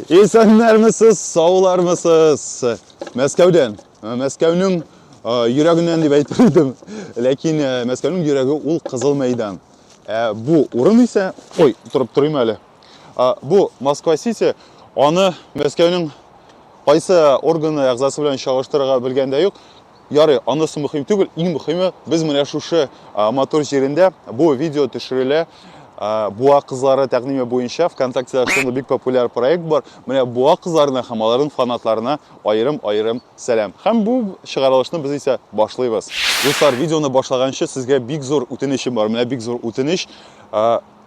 Исәннәрмесез, саулармысыз? Мәскәүдән. Мәскәүнең йөрәгеннән дип әйтер идем. Ләкин Мәскәүнең йөрәге ул Кызыл мәйдан. Ә бу урын исә, ой, торып торыйм әле. Бу Москва-Сити, аны Мәскәүнең кайсы органы әгъзасы белән чагыштырырга белгәндә юк. Ярый, анысы мөһим түгел, иң мөһиме, без менә шушы матур җирендә бу видео төшерелә. Буа кызлары тәкъдиме буенча ВКонтактеда шундый бик популяр проект бар. Менә буа кызларына һәм аларның фанатларына аерым-аерым сәлам. Һәм бу чыгарылышны без исә башлыйбыз. Дуслар, видеоны башлаганчы сезгә бик зур үтенечем бар. Менә бик зур үтенеч.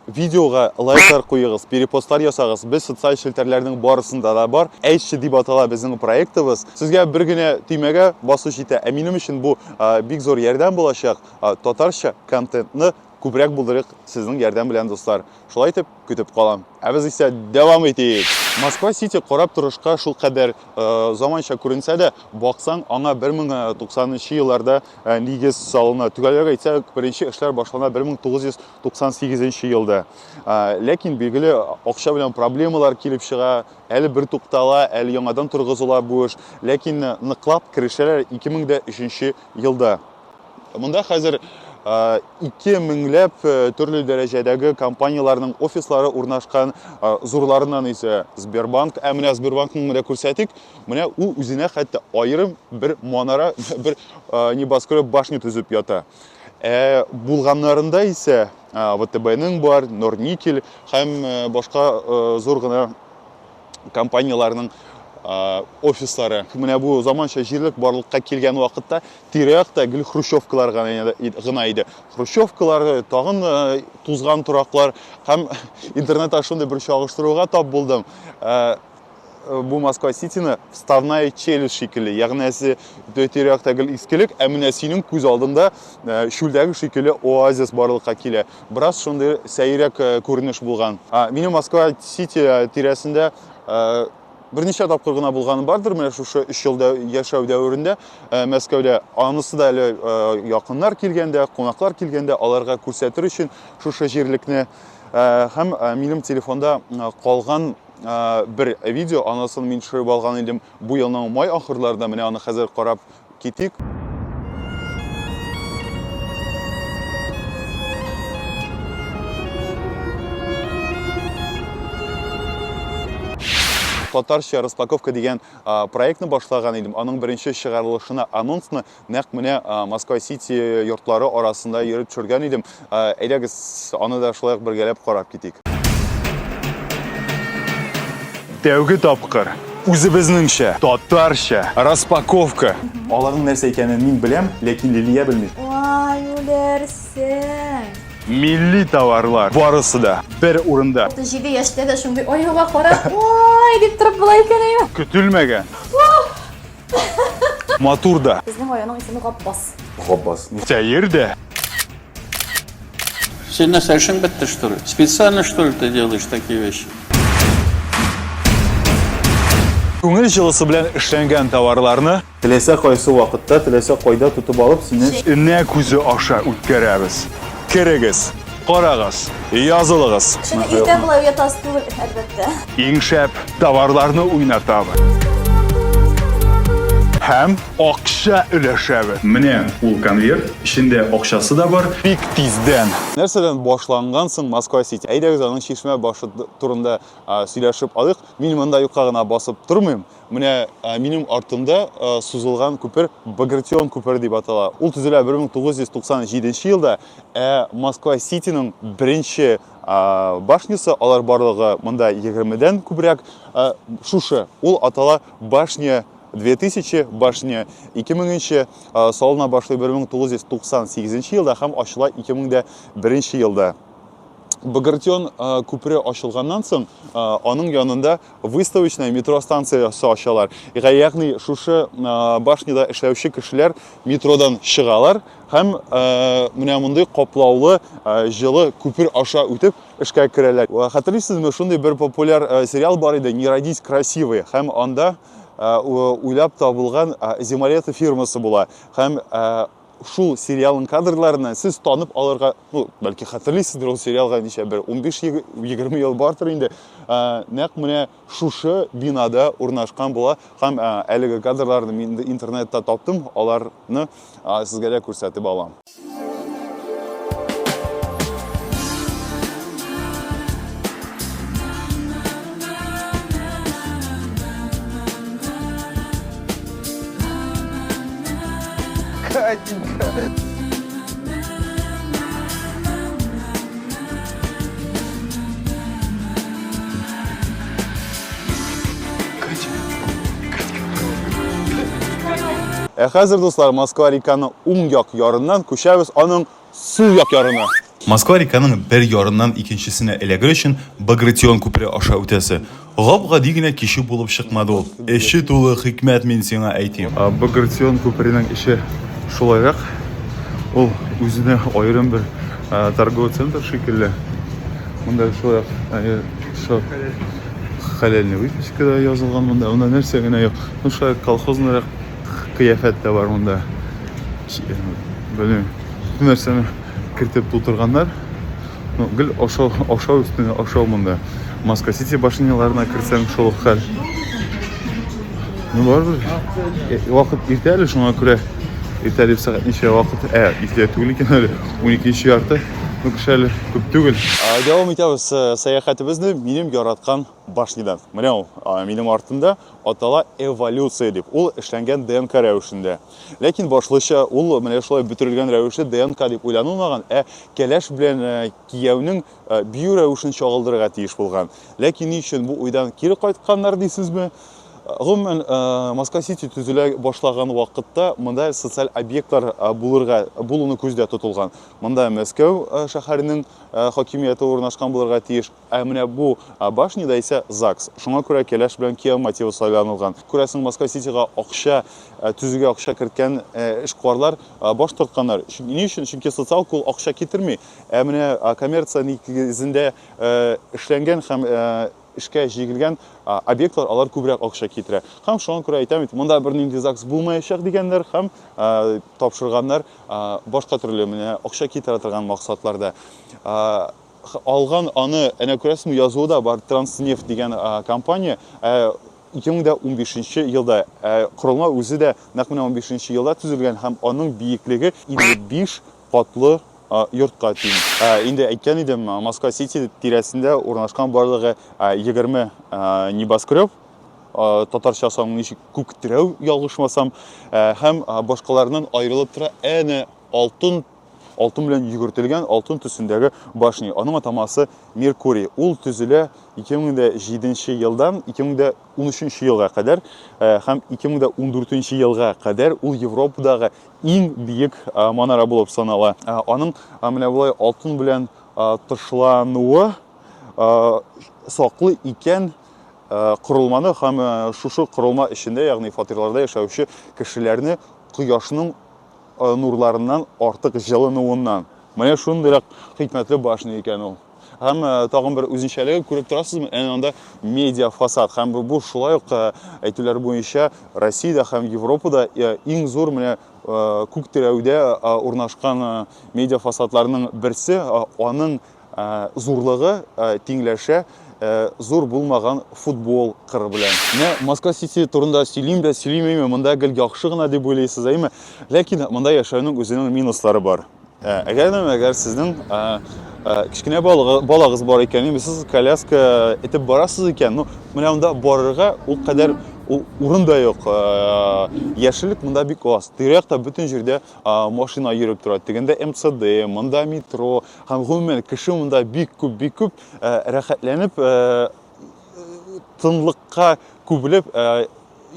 Видеога лайклар куегыз, перепостлар ясагыз. Без социаль челтәрләрнең барысында да бар. Әйтче дип атала безнең проектыбыз. Сезгә бер генә төймәгә басу җитә. Ә минем өчен бу бик зур ярдәм булачак. Татарча контентны күбрәк булдырыйк сезнең ярдәм белән, дуслар. Шулай итеп, көтеп калам. Ә без исә дәвам итик. Москва Сити карап торышка шул кадәр заманча күренсә дә, баксаң, аңа 1090 елларда нигез салына. Төгәлрәк әйтсәк, беренче эшләр башлана 1900 98 нче елда. Ләкин билгеле акча белән проблемалар килеп чыга, әле бер туктала, әле яңадан торгызыла бу эш. Ләкин ныклап керешәләр 2003 елда. Монда хәзер 2000 ләп төрле дәрәҗәдәге компанияләрнең офислары урнашкан, зурларыннан исә Сбербанк, ә менә Сбербанкның менә күрсәтик, менә ул үзенә хәтта аерым бер манара, бер небоскреб башня төзеп ята. Ә булганнарында исә ВТБ-ның бар, Норникель һәм башка зур гына компанияләрнең офислары. Менә бу заманча җирлек барлыкка килгән вакытта тирә-якта гел хрущевкалар гына иде. Хрущевкалар, тагын тузган тораклар һәм интернетта шундый бер чагыштыруга тап булдым. Э, бу Москва Ситины вставная челюсть шикелле. Ягъни әсе тирәктә гел искелек, ә менә синең күз алдында э, шүлдәге шикелле оазис барлыкка килә. Бераз шундый сәйрәк э, күренеш булган. А минем Москва Сити тирәсендә берничә тапкыр гына булганы бардыр менә шушы өч елда яшәү дәверендә мәскәүдә анысы да әле якыннар килгәндә кунаклар килгәндә аларга күрсәтер өчен шушы җирлекне һәм минем телефонда калган бер видео, анысын мин төшереп алган идем бу елның май ахырларында, менә аны хәзер карап китик. татарча распаковка дигән проектны башлаган идем аның беренче чыгарылышына анонсны Нәкъ менә Москва Сити йортлары арасында йөреп төшергән идем. Әйдәгез, аны да шулай ук бергәләп карап китик. Тәүге тапкыр үзебезнеңчә, татарча распаковка. Аларның нәрсә икәнен мин беләм, ләкин Лилия белми. Вай, үләрсең! Милли товарлар барысы да бер урында. 37 яшьтә дә шундый аюга карап, вай, дип торып була икән әйе. Көтелмәгән. Матур да. Безнең районның исеме Гапбас. Гапбас. Сәер дә. Син нәрсә эшең бетте, что ли? Специально, что ли, ты делаешь такие вещи? Күңел җылысы белән эшләнгән товарларны теләсә кайсы вакытта, теләсә кайда тотып алып, сине энә күзе аша үткәрәбез. Керегез! Карагыз, язылыгыз. Чөнки иртә болай уятасы түгел, әлбәттә. Иң шәп товарларны уйнатабыз. Һәм акча өләшәбез. Менә ул конверт, эчендә акчасы да бар. Бик тиздән. Нәрсәдән башланган соң Москва Сити? Әйдәгез аның чишмә башы турында сөйләшеп алыйк. Мин монда юкка гына басып тормыйм. Менә минем артымда сузылган күпер Багратион күпере дип атала. Ул төзелә 1997 елда, ә Москва Ситиның беренче башнясы, алар барлыгы монда 20-дән күбрәк, шушы. Ул атала башня 2000 башня 2000 салына башлый 1998 елда һәм ачыла 2001 елда. Багратион күпере ачылганнан соң, аның янында выставочная метро станциясе ачалар ягъни шушы башняда эшләүче кешеләр метродан чыгалар һәм менә мондый каплаулы җылы күпер аша үтеп эшкә керәләр хәтерлисезме шундый бер популяр сериал бар иде не родись красивой һәм анда уйлап табылган зималета фирмасы була һәм шул сериалның кадрларына сез танып алырга, ну, бәлки хәтерлисездер ул сериалга ничә бер 15-20 ел бартыр инде. Ә, нәкъ менә шушы бинада урнашкан була һәм ә, әлеге кадрларны мин интернетта таптым, аларны ә, сезгә дә күрсәтеп алам. Ә хәзер, дуслар, Москва реканы уң як ярыннан күчәбез аның сул як ярына. Москва-реканың бер ярыннан икенчесенә эләгер өчен Багратион күпере аша үтәсе. Гап-гади генә кичү булып чыкмады ул. Эче тулы хикмәт, мин сиңа әйтим. Багратион күперенең эче шулайрак. Ул үзенә аерым бер торговый центр шикелле. Монда шулай ук все хәләлне выпечка да язылган монда. Монда нәрсә генә юк. Ну, шулай колхозныйрак. кыяфәт тә бар монда белмим бөтен нәрсәне кертеп тутырганнар ну гел ашау ашау өстенә ашау монда маска сити башняларына кертсәң шул ук хәл ну барыбер э, вакыт иртә әле шуңа күрә иртә дип сәгать ничә вакыт ә иртә түгел икән әле уникенче ярты ну кеше әле күп түгел дәвам итәбез э, сәяхәтебезне минем яраткан Башнидан. Менә ул, минем артымда, атала эволюция дип. Ул эшләнгән ДНК рәвешендә. Ләкин башлыча ул менә шулай бөтерелгән рәвешле ДНК дип уйланылмаган, ә кәләш белән э, кияүнең э, бию рәвешен чагылдырырга тиеш булган. Ләкин ни өчен бу уйдан кире кайтканнар дисезме? Гомумән, э, Москва Сити төзелә башлаган вакытта монда социаль объектлар булырга булуны күздә тотылган. Монда Мәскәү шәһәренең хакимияте урнашкан булырга тиеш. Ә менә бу башняда исә ЗАГС. Шуңа күрә кәләш белән кияү мотивы сайланылган. Күрәсең, Москва-Ситига акча, ә, төзүгә акча керткән, ә, эшкуарлар, а, баш тартканнар. Чөнки, ни өчен? Чөнки социаль кул акча китерми. Ә менә, а, коммерция нигезендә, ә, эшләнгән һәм, ә, эшкә җигелгән, а, объектлар, алар күбрәк акча китерә. Һәм шуңа күрә әйтәм бит, монда бернинди ЗАГС булмаячак дигәннәр һәм, ә, тапшырганнар, а, башка төрле, менә акча китерә торган максатларда. А. Алган аны, әнә күрәсезме, язуы да бар, Транснефть дигән компания. Ә ике дә унбишенче елда ә корылма үзе дә нәкъ менә унбишенче елда төзелгән һәм аның биеклеге 55 катлы йортка тиң. Инде әйткән идем, Москва Сити тирәсендә урнашкан барлыгы 20 небоскреб, татарча санын ничек күктерәү ялгышмасам, һәм башкаларыннан аерылып тора әнә алтын алтын белән йөгертелгән алтын төсендәге башня. Аның атамасы Меркурий. Ул төзелә 2007 елдан 2013 елга кадәр э, һәм 2014 елга кадәр ул Европадагы иң биек э, манара булып санала. Э, аның менә болай алтын белән тышлануы саклы икән корылманы һәм шушы корылма эчендә, ягъни фатирларда яшәүче кешеләрне кояшның э, нурларыннан артык җылынуыннан. Менә шундыйрак хикмәтле башня икән ул. Һәм э, тагын бер үзенчәлеге күреп торасызмы, әнә анда медиа фасад. Һәм бу шулай ук э, әйтүләр буенча Россиядә һәм Европада иң зур менә күк терәүдә урнашкан медиа фасадларның берсе. Аның Зурлыгы тиңләшә зур булмаган футбол кыры белән. Менә Москва Сити турында сөйлим дә сөйлим әйме, монда гел яхшы гына дип уйлыйсыз әйме. Ләкин монда яшәүнең үзенең минуслары бар. Әгәр дә әгәр сезнең кечкенә балагыз бар икән, яме сез коляска этеп барасыз икән, ну, менә монда барырга ул кадәр урын да юк. Яшелек монда бик аз. Тирәктә бөтен җирдә машина йөреп тора. Тегендә МЦД, монда метро, Һәм гомумән кеше монда бик күп, бик күп э, рәхәтләнеп, э, тынлыкка күбелеп э,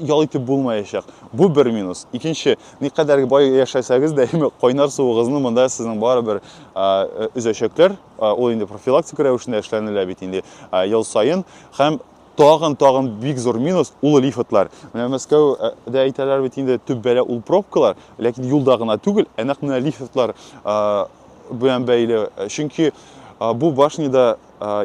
ял итеп булмаячак. Бу бер минус. Икенче, никадәр бай яшәсәгез дә, әмма кайнар суыгызны монда сезнең барыбер э, өзәчәкләр. Э, ул инде профилактика рәвешендә эшләнелә бит инде э, ел саен һәм тагын тагын бик зур минус ул лифтлар. Менә Мәскәүдә әйтәләр бит инде төп бәла ул пробкалар, ләкин юлда гына түгел, ә нәкъ менә лифтлар белән бәйле. Чөнки бу башнида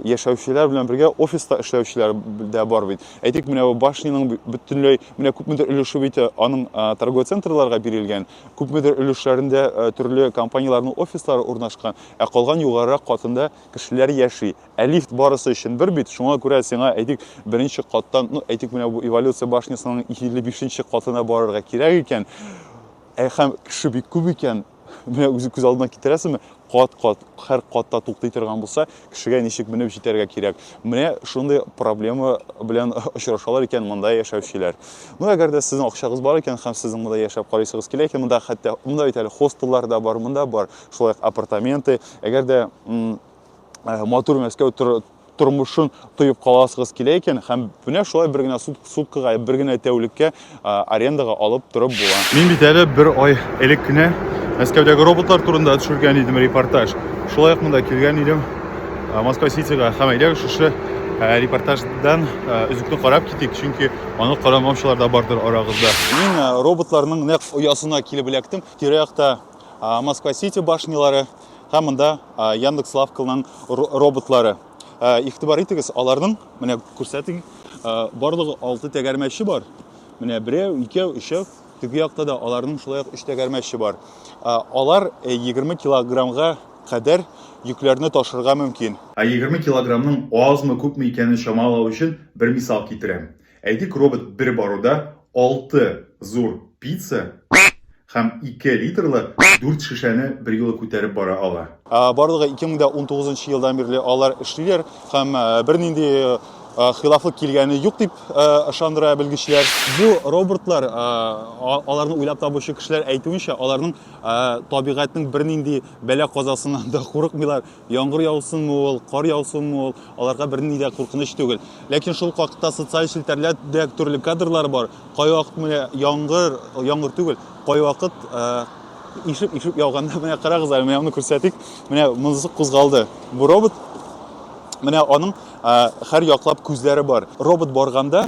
яшәүчеләр белән бергә офиста эшләүчеләр дә бар бит. Әйтик, менә бу башниның бөтенләй менә күпмедер өлеше бит аның торговый центрларга бирелгән, күпмедер өлешләрендә төрле компанияләрнең офислары урнашкан, ә калган югарырак катында кешеләр яши. Ә лифт барысы өчен бер бит, шуңа күрә сиңа әйтик, беренче каттан, ну, әйтик, менә бу эволюция башнясының 55 нче катына барырга кирәк икән, ә һәм кеше бик күп икән, менә үзе күз алдына китерәсеңме кат кат һәр катта туктый торган булса кешегә ничек менеп җитәргә кирәк менә шундый проблема белән очрашалар икән монда яшәүчеләр ну әгәр дә сезнең акчагыз бар икән һәм сезнең монда яшәп карыйсыгыз килә икән монда хәтта монда бит әле хостеллар да бар монда бар шулай апартаменты әгәр дә матур мәскәү тормышын тоеп каласыгыз килә икән һәм менә шулай бер генә сут, суткага, бер генә тәүлеккә арендага алып торып була. Мин бит әле бер ай элек кенә Мәскәүдәге роботлар турында төшергән идем репортаж. Шулай ук монда килгән идем Москва Ситига һәм әйдәгез шушы репортаждан өзекне карап китик, чөнки аны карамаучылар да бардыр арагызда. Мин роботларның нәкъ оясына килеп эләктем. Тирә-якта Москва Сити башнялары, Һәм монда Яндекс Лавкалның роботлары. Игътибар итегез, аларның менә күрсәтик, барлыгы 6 тәгәрмәче бар. Менә берәү, икәү, өчәү, теге якта да аларның шулай ук 3 тәгәрмәче бар. Алар 20 килограммга кадәр йөкләрне ташырга мөмкин. Ә 20 килограммның азмы, күпме икәнен чамалау өчен бер мисал китерәм. Әйтик, робот бер баруда алты зур пицца һәм ике литрлы дүрт шешәне берьюлы күтәреп бара ала. Барлыгы 2019 нчы елдан бирле алар эшлиләр һәм бернинди хилафлык килгәне юк дип ышандыра белгечләр. Бу роботлар, аларны уйлап табучы кешеләр әйтүенчә, аларның табигатьнең бернинди бәла-казасыннан да курыкмыйлар. Яңгыр яусынмы ул, кар яусынмы ул, аларга берни дә куркыныч түгел. Ләкин шул ук вакытта социаль челтәрләрдә төрле кадрлар бар. Кайвакыт менә яңгыр, яңгыр түгел, кайвакыт ишеп-ишеп яуганда, менә карагыз әле, менә аны күрсәтик. Менә монысы кузгалды. Бу робот. Менә аның һәр яклап күзләре бар. Робот барганда,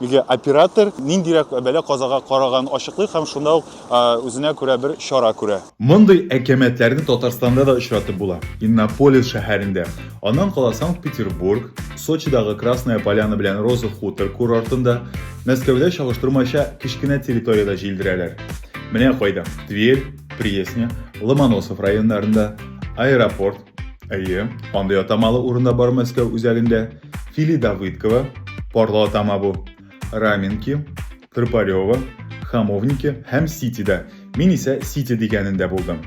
Беге оператор ниндирәк бәла-казага караганын ачыклый һәм шунда ук үзенә күрә бер чара күрә. Мондый әкәмәтләрне Татарстанда да очратып була. Иннополис шәһәрендә, аннан кала Санкт-Петербург, Сочидагы Красная Поляна белән Роза Хутор курортында, Мәскәүдә чагыштырмача кечкенә территориядә җилдерәләр. Менә кайда, Тверь, Пресня, Ломоносов районнарында, Аэропорт, әйе, андый атамалы урын да бар Мәскәү үзәгендә, Фили Давыдкова, Парло Тамабу, Раменки, Крыпарева, Хамовники һәм Ситида. Мин исә Сити дигәнендә булдым.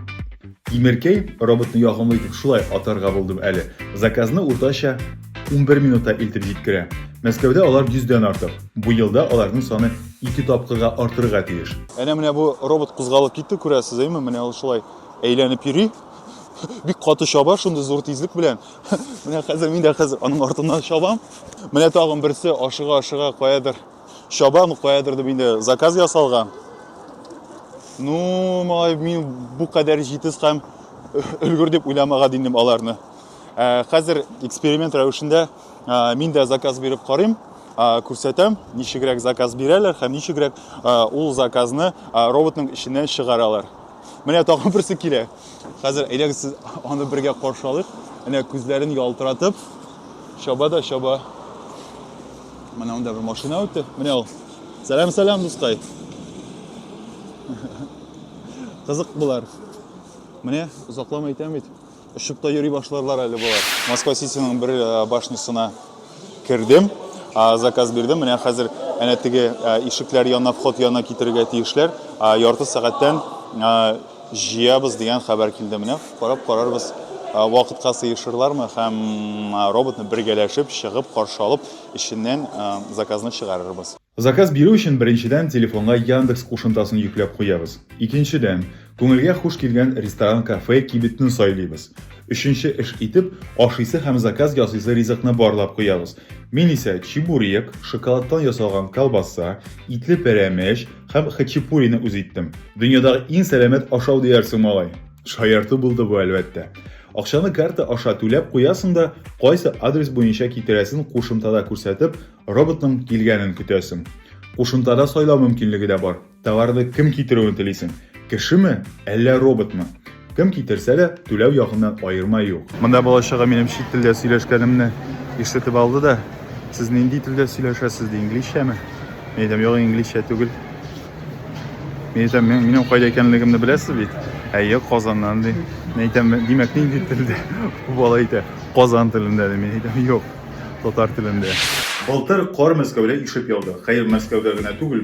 Тимеркәй роботны ягымлы итеп шулай атарга булдым әле. Заказны уртача 11 минутта илтеп җиткерә. Мәскәүдә алар 100-дән артык. Бу елда аларның саны 2 тапкырга артырга тиеш. Әнә менә бу робот кузгалып китте, күрәсез, әйме? Менә ул шулай әйләнеп йөри. Бик каты чаба, шундый зур тизлек белән. Менә хәзер мин дә хәзер аның артыннан чабам. Менә тагын берсе ашыга-ашыга каядыр чабам, каядыр дип инде заказ ясалган. Ну, малай, мин бу кадәр җитез һәм өлгер дип уйламаган идем аларны. Ә, хәзер эксперимент рәвешендә ә, мин дә заказ биреп карыйм, ә, күрсәтәм, ничегрәк заказ бирәләр һәм ничегрәк ә, ул заказны ә, роботның эченнән чыгаралар. Менә тагын берсе килә. Хәзер әйдәгез сез аны бергә каршы алыйк. Әнә күзләрен ялтыратып чаба да чаба. Менә анда бер машина үтте. Менә ул. Сәлам, сәлам, дускай. Кызык булар. Менә озакламый әйтәм бит. Очып та йөри башларлар әле болар. Москва Ситиның бер э, башнисына кердем, заказ бирдем. Менә хәзер әнә теге э, ишекләр янына, вход янына китерергә тиешләр. Ярты сәгатьтән э, җыябыз дигән хәбәр килде. Менә карап карарбыз, вакытка сыешырлармы һәм роботны бергәләшеп чыгып каршы алып, эченнән заказны чыгарырбыз. Заказ бирү өчен беренчедән телефонга Яндекс кушымтасын йөкләп куябыз. Икенчедән, Күңелгә хуш килгән ресторан-кафе кибетне сайлыйбыз. Өченче эш итеп, ашыйсы һәм заказ ясыйсы ризыкны барлап куябыз. Мин исә чебурек, шоколадтан ясалган колбаса, итле пәрәмәч һәм хачапурины үз иттем. Дөньядагы иң сәламәт ашау диярсең, малай! Шаярту булды бу, әлбәттә. Акчаны карта аша түләп куясың да, кайсы адрес буенча китерәсен кушымтада күрсәтеп, роботның килгәнен көтәсең. Кушымтада сайлау мөмкинлеге дә бар. Товарны кем китерүен телисең? Кешеме, әллә роботмы? Кем китерсә дә, түләү ягыннан аерма юк. Монда балачага минем чит телдә сөйләшкәнемне ишетеп алды да, сез нинди телдә сөйләшәсез ди, инглизчәме? Мин әйтәм, юк, инглизчә түгел. Мин әйтәм, минем кайда икәнлегемне беләсез бит? Әйе, Казаннан ди. Мин әйтәм, димәк, нинди телдә? Бу бала әйтә, Казан телендә ди. Мин әйтәм, юк, татар телендә. Былтыр кар Мәскәүдә ишеп яуды. Хәер, Мәскәүдә генә түгел,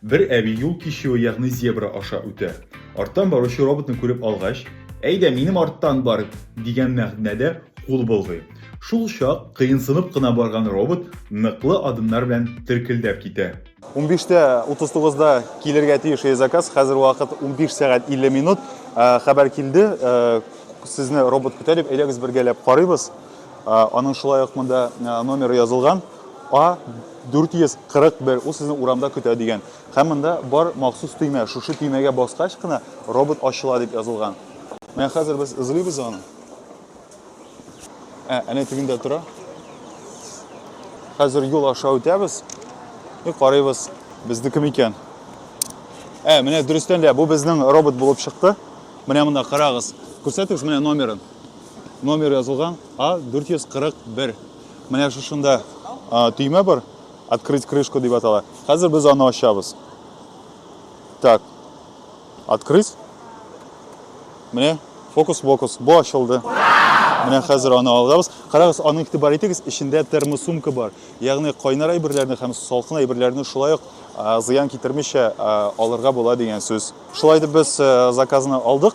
Бер әби юл кичүе, ягъни зебра аша үтә. Арттан баручы роботны күреп алгач, Әйдә, минем арттан бар! дигән мәгънәдә кул болгый. Шул чак кыенсынып кына барган робот ныклы адымнар белән теркелдәп китә. Унбиш тә утыз тугызда килергә тиеш e-заказ, хәзер вакыт унбиш сәгать илле минут. Хәбәр килде, сезне робот көтә дип, әйдәгез бергәләп карыйбыз. Аның шулай ук монда номеры язылган, А 441, ул сезне урамда көтә дигән. Һәм монда бар махсус төймә, шушы төймәгә баскач кына робот ачыла дип язылган. Менә хәзер без эзлибез аны. Ә, әнә тегендә тора. Хәзер юл аша үтәбез. И карыйбыз, безнеке микән? Ә, менә дөрестән дә бу безнең робот булып чыкты. Менә монда карагыз. Күрсәтегез менә номерын. Номер язылган А441. Менә шушында төймә бар. Открыть крышку дип атала. Хәзер без аны ачабыз. Так. Открыть. Менә фокус-фокус. Бу ачылды. Менә хәзер аны алабыз. Карагыз, аны игътибар итегез, эчендә термосумка бар. Ягъни кайнар әйберләрне һәм салкын әйберләрне шулай ук зыян китермичә алырга була дигән сүз. Шулай итеп без заказны алдык.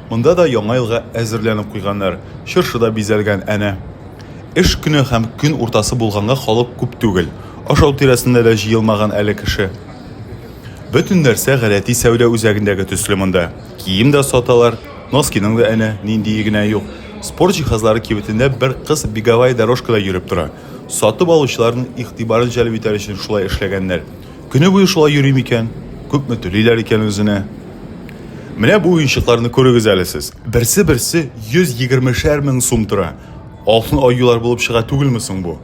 Монда да Яңа елга әзерләнеп куйганнар, чыршы да бизәлгән әнә. Эш көне һәм көн уртасы булганга халык күп түгел, ашау тирәсенә дә җыелмаган әле кеше. Бөтен нәрсә гадәти сәүдә үзәгендәге төсле монда. Кием дә саталар, носкиның да әнә ниндие генә юк. Спорт җиһазлары кибетендә бер кыз беговая дорожкада йөреп тора. Сатып алучыларның игътибарын җәлеп итәр өчен шулай эшләгәннәр. Көне буе шулай йөри микән? Күпме түлиләр икән үзенә? Менә бу уенчыкларны күрегез әле сез. Берсе-берсе 120 шәр мең сум тора. Алтын аюлар булып чыга түгелме соң бу?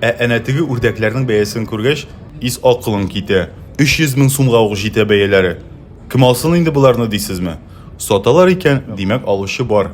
Ә әнә теге үрдәкләрнең бәясен күргәч, ис акылың китә. 300 мең сумга ук җитә бәяләре. Кем алсын инде боларны дисезме? Саталар икән, димәк, алучы бар.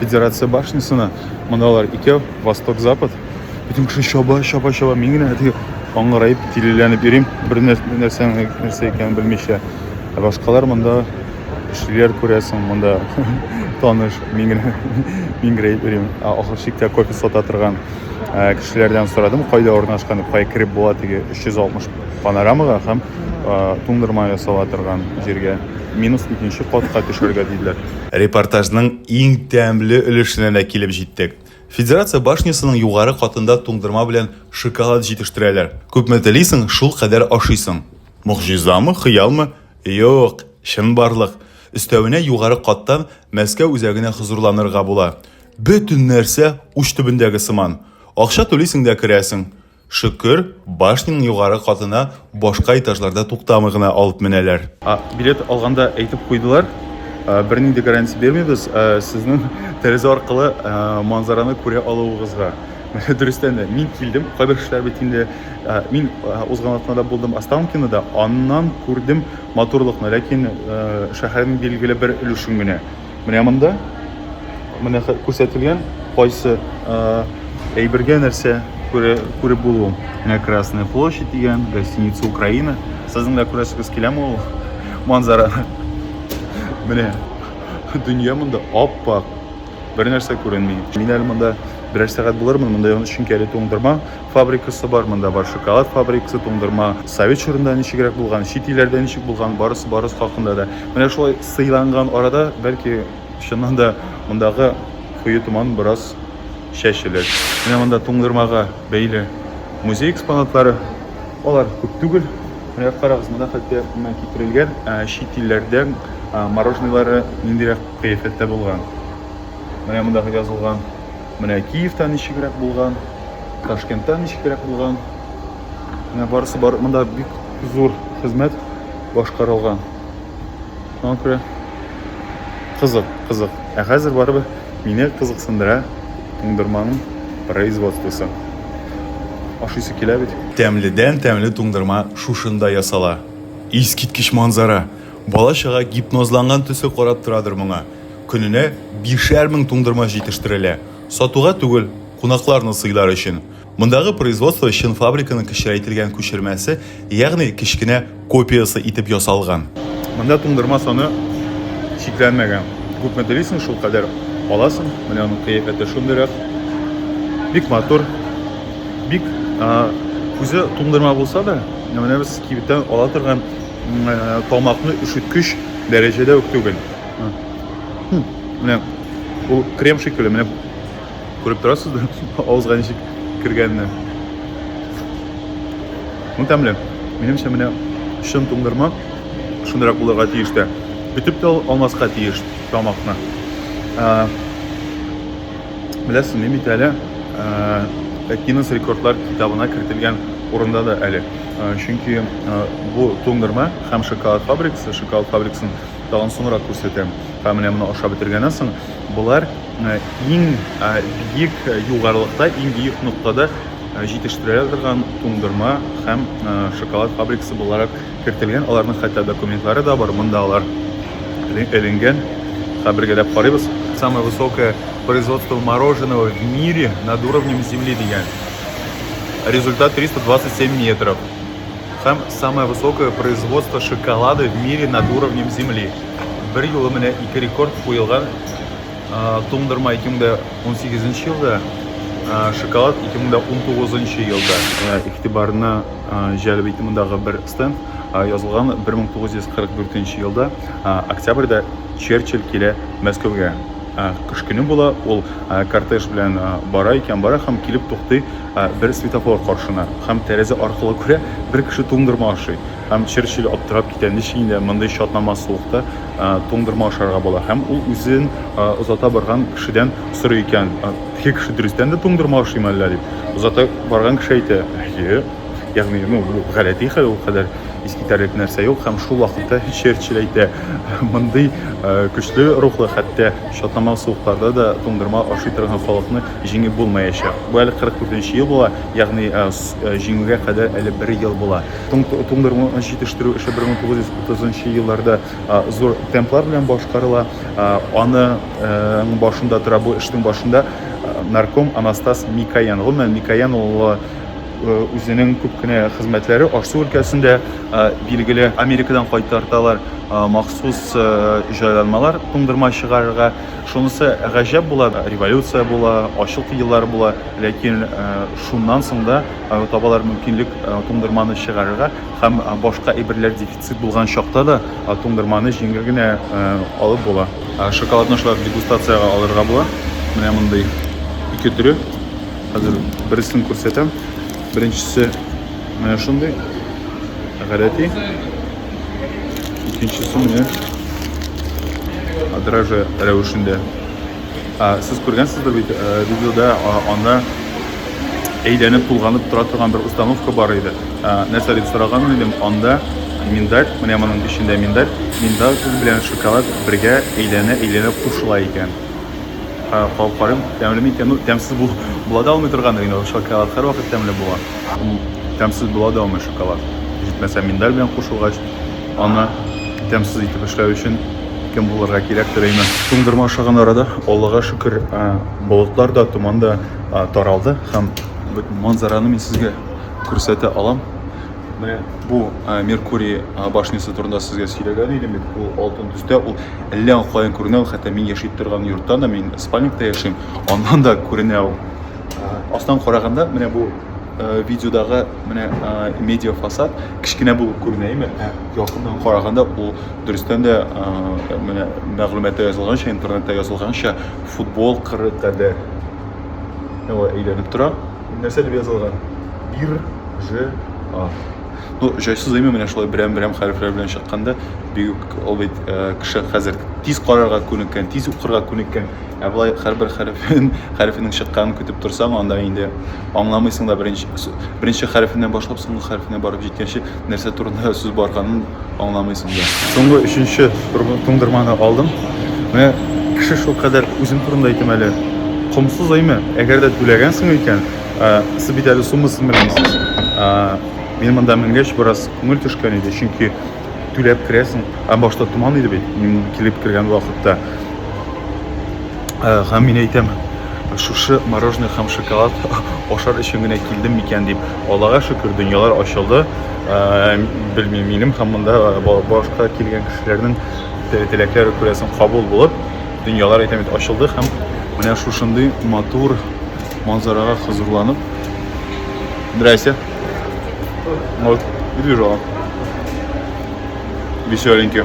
Федерация башнясына мондалар икәү, восток-запад. Бөтен кеше чаба, чаба, чаба. Мин генә әти аңгыраеп, тилеләнеп йөрим, бер нәрсә нәрсә икәнен белмичә. Ә башкалар монда кешеләр күрәсең, монда таныш, мин генә миңгерәеп йөрим. Ахыр чиктә кофе сата торган кешеләрдән сорадым, кайда урнашкан, кая кереп була теге 360 панорамага һәм туңдырма ясала торган җиргә минус икенче катка төшәргә диделәр. Репортажның иң тәмле өлешенә дә килеп җиттек. Федерация башнясының югары катында туңдырма белән шоколад җитештерәләр. Күпме телисең, шул кадәр ашыйсың. Могҗизамы, хыялмы? Юк, чынбарлык. Өстәвенә югары каттан Мәскәү үзәгенә хозурланырга була. Бөтен нәрсә уч төбендәге сыман. Акча түлисең дә керәсең. Шөкер, башняның югары катына башка этажларда туктамый гына алып менәләр. Билет алганда әйтеп куйдылар, бернинди гарантия бирмибез сезнең тәрәзә аркылы манзараны күрә алуыгызга. Дөрестән дә, мин килдем, кайбер кешеләр бит инде, мин узган атнада булдым Останкинода, аннан күрдем матурлыкны, ләкин шәһәрнең билгеле бер өлешен генә. Менә монда менә күрсәтелгән кайсы әйбергә нәрсә күреп булу. Менә Красная площадь дигән, гостиница Украина. Сезнең дә күрәсегез киләме ул манзараны? Менә дөнья монда ап-ак. Бер нәрсә күренми. Мин әле монда берәр сәгать булырмын, монда чөнки әле туңдырма фабрикасы бар, монда бар шоколад фабрикасы, туңдырма. Совет чорында ничегрәк булган, чит илләрдә ничек булган, барысы барысы хакында да. Менә шулай сыйланган арада, бәлки чыннан да мондагы куе томан бераз чәчелер. Менә монда туңдырмага бәйле музей экспонатлары. Алар күп түгел. Менә карагыз, монда хәтта менә китерелгән чит илләрдән мороженыйлары ниндирәк кыяфәттә булган. Менә монда язылган Менә Киевта ничегрәк булган, Ташкентта ничегрәк булган. Менә барысы бар. Монда бик зур хезмәт башкарылган. Шуңа күрә кызык, кызык. Ә хәзер барыбер мине кызыксындыра туңдырманың производствосы. Ашыйсы килә бит. Тәмледән тәмле туңдырма шушында ясала. Искиткеч манзара! Бала-чага гипнозланган төсле карап торадыр моңа. Көненә бишәр мең туңдырма җитештерелә. Сатуга түгел, кунакларны сыйлар өчен. Мондагы производство чын фабриканың кечерәйтелгән күчермәсе, ягъни кечкенә копиясе итеп ясалган. Монда туңдырма саны чикләнмәгән. Күпме телисең, шулкадәр аласың. Менә аның кыяфәте шундый рәк. Бик матур. Бик үзе туңдырма булса да, менә без кибеттән ала торган тамакны өшеткеч дәрәҗәдә үк түгел. менә ул крем шикелле менә күреп торасыз да авызга ничек кергәнне ну тәмле минемчә менә чын туңдырма шундыйрак булырга тиеш тә бөтеп тә алмаска тиеш тамакны беләсез ни бит әле гиннес рекордлар китабына кертелгән урында да әле чөнки бу туңдырма һәм шоколад фабрикасы шоколад фабрикасын Тагын соңрак күрсәтәм. Һәм менә моны ашап бетергәннән соң, болар иң биек югарылыкта, иң биек ноктада җитештерәләр торган туңдырма һәм шоколад фабрикасы буларак кертелгән. Аларның хәтта документлары да бар. Монда алар эленгән. Хәбергә дә карыйбыз. Самое высокое производство мороженого в мире над уровнем земли дигән. Результат 327 метров. һәм самое высокое производство шоколада в мире над уровнем земли бер юлы менә ике рекорд куелган туңдырма 2018 елда шоколад 2019 елда игътибарына җәлеп итте мондагы бер стенд язылган 1944 елда октябрьдә черчилль килә мәскәүгә кыш көне була ул кортеж белән бара икән бара һәм килеп туктый Бер светофор каршына һәм тәрәзә аркылы күрә, бер кеше туңдырма ашый. Һәм Черчилль аптырап китә, ничек инде мондый чатнамас суыкта туңдырма ашарга була. Һәм ул үзен озата барган кешедән сорый икән, Теге кеше дөрестән дә туңдырма ашыймы әллә? дип. Озата барган кеше әйтә, Әйе. Ягъни, ну, бу гадәти хәл, ул кадәр искитәрлек нәрсә юк. Һәм шул вакытта Черчилль әйтә, Мондый көчле рухлы, хәтта чатнамас суыкларда да туңдырма ашый торган халыкны җиңеп булмаячак. Бу әле 44 ел була, ягъни җиңүгә кадәр әле бер ел була. Туңдыру җитештерү эше 1930 елларда зур темплар белән башкарыла. Аның башында тора, бу эшнең башында нарком Анастас Микоян. Гомумән, Микоян улы үзенең күп кенә хезмәтләре аш-су өлкәсендә билгеле. Америкадан кайтарталар махсус җайланмалар туңдырма чыгарырга. Шунысы гаҗәп була, революция була, ачлык еллары була, ләкин э, шуннан соң да э, табалар мөмкинлек э, туңдырманы чыгарырга һәм башка әйберләр дефицит булган чакта да туңдырманы җиңел генә алып була. Шоколадны шулай дегустациягә алырга була. Менә мондый ике төре. Хәзер берсен күрсәтәм. Беренчесе менә шундый. Гадәти. икенчесе менә драже рәвешендә сез күргәнсездер бит видеода анда әйләнеп тулганып тора торган бер установка бар иде нәрсә дип сораган идем анда миндаль менә моның эчендә миндаль миндаль белән шоколад бергә әйләнә әйләнә кушыла икән Калкарым, тәмле микән? Ну, тәмсез бу, була да алмый торган иде, но шоколад һәрвакыт тәмле була. Ул тәмсез була да алмый шоколад. Җитмәсә миндаль белән кушылгач, аны тәмсез итеп эшләү өчен кем булырга кирәктер әйме. Туңдырма ашаган арада, Аллага шөкер, болытлар да, томан да таралды һәм манзараны мин сезгә күрсәтә алам. Менә бу Меркурий башнясы турында сезгә сөйләгән идем бит. Ул алтын төстә, ул әллә каян күренә, хәтта мин яшәп торган йортта да, мин спальникта яшим, аннан да күренә ул. Астан караганда, менә бу видеодагы менә медиа фасад кечкенә булып күренә, әйме? Ә якыннан караганда ул дөрестән дә менә мәгълүматта язылганча, интернетта язылганча футбол кыры кадәр. Әйләнеп тора. Нәрсә дип язылган? Бир же а. Ну, җайсыз имя менә шулай берәм-берәм хәрефләр белән чыкканда, бик ул бит э, кеше хәзер тиз карарга күнеккән, тиз укырга күнеккән. Ә болай һәрбер хәрефен, хәрефенең чыкканын көтеп торсаң, анда инде аңламыйсың да беренче беренче хәрефеннән башлап соңгы хәрефенә барып җиткәнче Нәрсә турында сүз барганын аңламыйсың да. Соңгы өченче туңдырманы алдым. Менә кеше шул кадәр үзем турында әйтәм әле. Комсыз әйме? Әгәр дә түләгәнсең икән, сез бит әле суммасын белмисез. Мин монда менгәч бераз күңел төшкән иде, чөнки түләп керәсең. Ә башта томан иде бит, мин килеп кергән вакытта. Э, һәм мин әйтәм шушы мороженое һәм шоколад ашар өчен генә килдем микән дип аллага шөкер дөньялар ачылды э, белмим минем һәм монда э, башка килгән кешеләрнең теләкләре күрәсен кабул булып дөньялар әйтәм бит ачылды һәм менә шушындый матур манзарага хозурланып здрасте вот и движок веселенький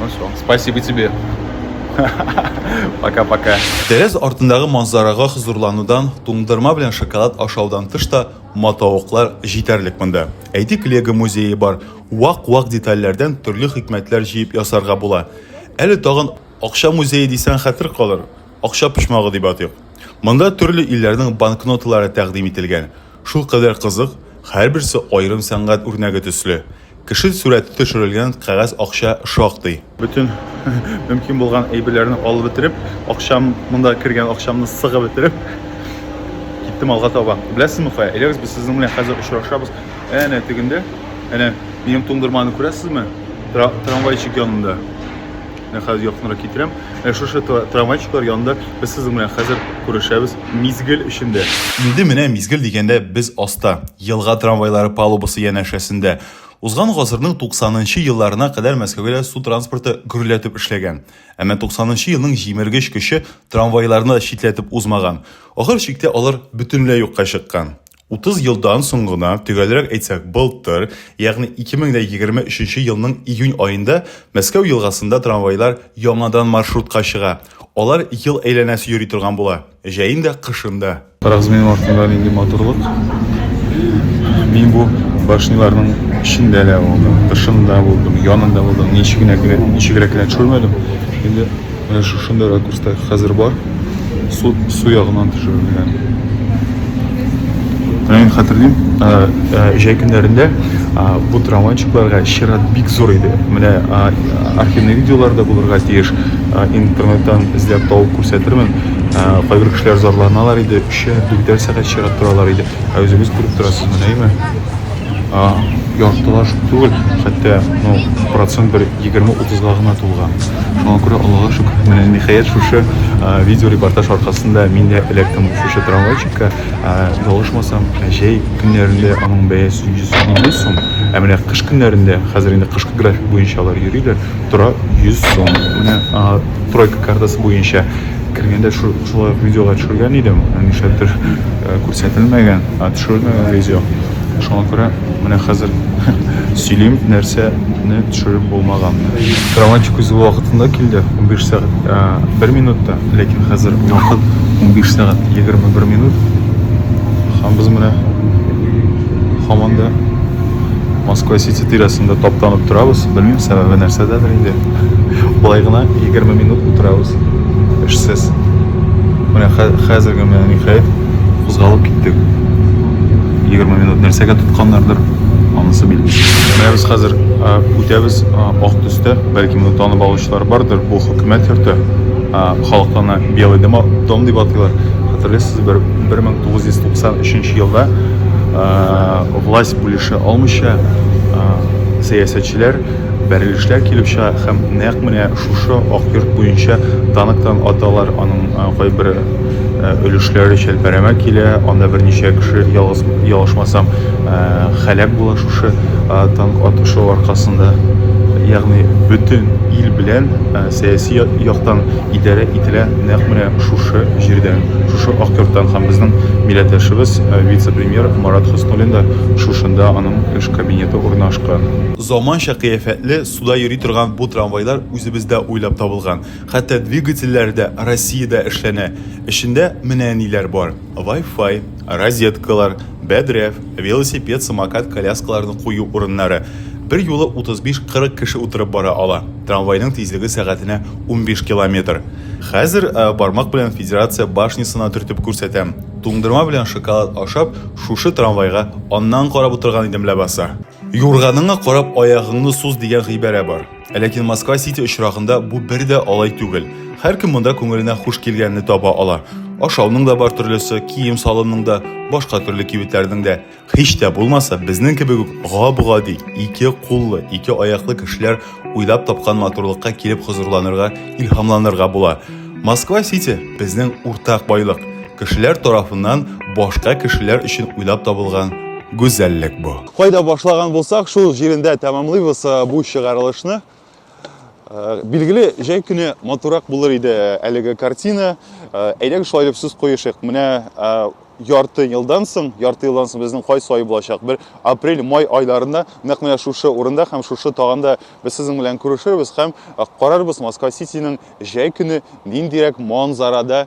Ну все, спасибо тебе. Пока-пока. Тәрәз артындагы манзарага хозурланудан, туңдырма белән шоколад ашаудан тыш та матавыклар җитәрлек монда. Әйтик, Лего музее бар. Вак-вак детальләрдән төрле хикмәтләр җыеп ясарга була. Әле тагын акча музее дисәң хәтер калыр. Акча почмагы дип атыйк. Монда төрле илләрнең банкноталары тәкъдим ителгән. Шул кадәр кызык, һәрберсе аерым сәнгать үрнәге төсле. Кеше сурәте төшерелгән кәгазь акча шактый. Бөтен мөмкин булган әйберләрне алып бетереп, акчам, монда кергән акчамны сыгып бетереп, киттем алга таба. Беләсезме кая? Әйдәгез, без сезнең белән хәзер очрашабыз. Әнә тегендә, әнә минем туңдырманы күрәсезме? Тра трамвайчик янында. Менә хәзер якынрак китерәм. Ә шушы трамвайчиклар янында без сезнең белән хәзер күрешәбез мизгел эчендә. Инде менә мизгел дигәндә без аста. Елга трамвайлары палубасы янәшәсендә узган гасырның 90 нчы елларына кадәр Мәскәүгә су транспорты гөрләтеп эшләгән. Әмма 90 нчы елның җимергеч көче трамвайларны да читләтеп узмаган. Ахыр чиктә алар бөтенләй юкка чыккан. 30 елдан соң гына, төгәлрәк әйтсәк, былтыр, ягъни 2023 елның июнь аенда Мәскәү елгасында трамвайлар яңадан маршрутка чыга, алар ел әйләнәсе йөри торган була. Җәен дә, кышын да. Карагыз минем артымда нинди матурлык. Мин бу башниларның эчендә дә булдым, тышында булдым, янында булдым, ничегенә генә, ничегрәк кенә төшермәдем. Инде менә шушында ракурста хәзер бар. Су, су ягыннан төшерелгән. Менә мин хәтерлим, җәй көннәрендә бу трамвайчыкларга чират бик зур иде. Менә архивный видеолар да булырга тиеш, интернеттан эзләп табып күрсәтермен. Ә, кайбер кешеләр зарланалар иде, өчәр, дүртәр сәгать чират торалар иде. Ә үзегез күреп торасыз, менәме? Ә, яртылаш түгел, хәтта, ну, процент бер 20-30-га гына тулган. Шуңа күрә Аллага шөкер, менә ниһаять шушы ә, видеорепортаж аркасында мин дә эләктем шушы трамвайчикка. Ә, ялгышмасам, җәй көннәрендә аның бәясе 150 сум, ә менә кыш көннәрендә, хәзер инде кышкы график буенча алар йөриләр, тора 100 сум. Менә, ә, тройка картасы буенча кергәндә шулай видеолар төшергән идем нишләптер э, күрсәтелмәгән ә төшерелмәгән видео шуңа күрә менә хәзер сөйлим нәрсәне төшереп булмаганны грамматик үзе вакытында килде 15 сәгать ә, бер минутта ләкин хәзер вакыт 15 сәгать 21 минут һәм без менә һаман да Москва Сити тирәсендә таптанып торабыз. Белмим, сәбәбе нәрсәдәдер инде. Болай гына 20 минут утырабыз. Эшсез. Менә хәзерге менә ниһаять кузгалып киттек. 20 минут нәрсәгә тотканнардыр, анысы билгеле. Менә без хәзер үтәбез ак төстә, бәлки моны танып алучылар бардыр, бу хөкүмәт йорты. Халыкта белый дом дип атыйлар. Хәтерлисез, бер 1993 елда Власть бүлешә алмыйча, сәясәтчеләр бәрелешләр килеп чыга һәм нәкъ менә шушы Ак йорт буенча танктан аталар, аның кайбер өлешләре чәлпәрәмә килә, анда берничә кеше, ялгыз ялгышмасам, һәлак була шушы танк атышу аркасында. Ягъни бөтен ил белән сәяси яктан идарә ителә нәкъ менә шушы җирдән, шушы ак йорттан һәм безнең милләттәшебез, вице-премьер Марат Хөснуллин да шушында, аның эш кабинеты урнашкан. Заманча кыяфәтле, суда йөри торган бу трамвайлар үзебездә уйлап табылган, хәтта двигательләре дә Россиядә эшләнә. Эчендә менә ниләр бар. Вай-фай, розеткалар, бәдрәф, велосипед, самокат, коляскаларны кую урыннары. Берьюлы 35-40 кеше утырып бара ала. Трамвайның тизлеге сәгатенә 15 километр. Хәзер бармак белән Федерация башнясына төртеп күрсәтәм. Туңдырма белән шоколад ашап, шушы трамвайга аннан карап утырган идем ләбаса. Юрганыңа карап аягыңны суз дигән гыйбарә бар. Ә ләкин Москва Сити очрагында бу бер дә алай түгел. Һәркем монда күңеленә хуш килгәнне таба ала. Ашауның да бар төрлесе, кием салымның да, башка төрле кибетләрнең дә. Һич тә булмаса, безнең кебек үк гап-гади, ике куллы, ике аяклы кешеләр уйлап тапкан матурлыкка килеп хозурланырга, илһамланырга була. Москва Сити безнең уртак байлык. Кешеләр тарафыннан башка кешеләр өчен уйлап табылган гүзәллек бу. Кайда башлаган булсак, шул җирендә тәмамлыйбыз э, бу чыгарылышны. Э, билгеле, җәй көне матурак булыр иде э, әлеге картина. Әйдәгез шулай дип сүз куешык. Менә ярты елдан соң, ярты елдан соң безнең кайсы ай булачак? Бер апрель, май айларында нәкъ менә шушы урында һәм шушы таганда без сезнең белән күрешербез һәм карарбыз Москва Ситинең җәй көне ниндирәк манзарада